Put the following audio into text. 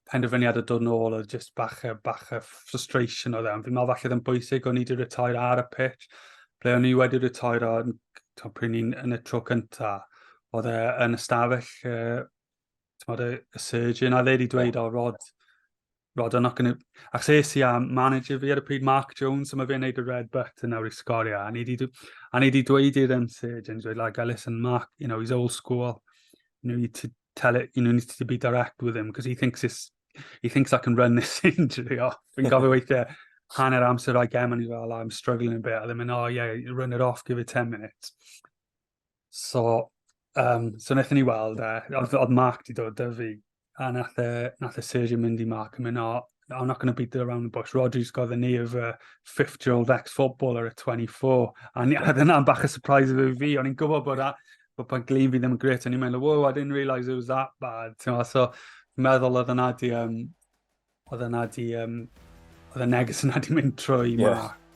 penderfyniad o dod nôl oedd just bach a, bach a frustration oedd e. Ond fi'n meddwl falle ddim bwysig o'n i wedi retair ar y pitch. Ble o'n i wedi retair o, pryd ni'n yn y tro cynta, oedd e yn ystafell, uh, tymod, y surgeon, a ddeud i dweud, o, Rod, Rod, I'm not going to... Ac ses i am manager fi ar y pryd, Mark Jones, a mae fe'n neud y red button nawr i sgorio. A ni wedi dweud i'r um, surgeon, dweud, like, listen, Mark, you know, he's old school. You know, you tell it, you know, needs to be direct with him, because he thinks it's, he thinks I can run this injury off. Fi'n gofio weithiau hanner amser o'i gem, and he's like, I'm struggling a bit. A ddim yn, oh yeah, run it off, give it 10 minutes. So, um, so wnaethon ni weld e, oedd Mark di dod dy fi, a nath e, nath e Sergio mynd i Mark yn mynd, oh, I'm not going to beat it around the bush. Rodri's got the knee of a 50-year-old ex-footballer at 24. A dyna'n bach y surprise i fi. O'n i'n gwybod bod, a, bod pan glin fi ddim yn gret. O'n i'n meddwl, wow, I didn't realise it was that bad. Tewa, so, meddwl oedd yna di, um, oedd yna di, um, oedd y neges yna di mynd trwy yeah. ma.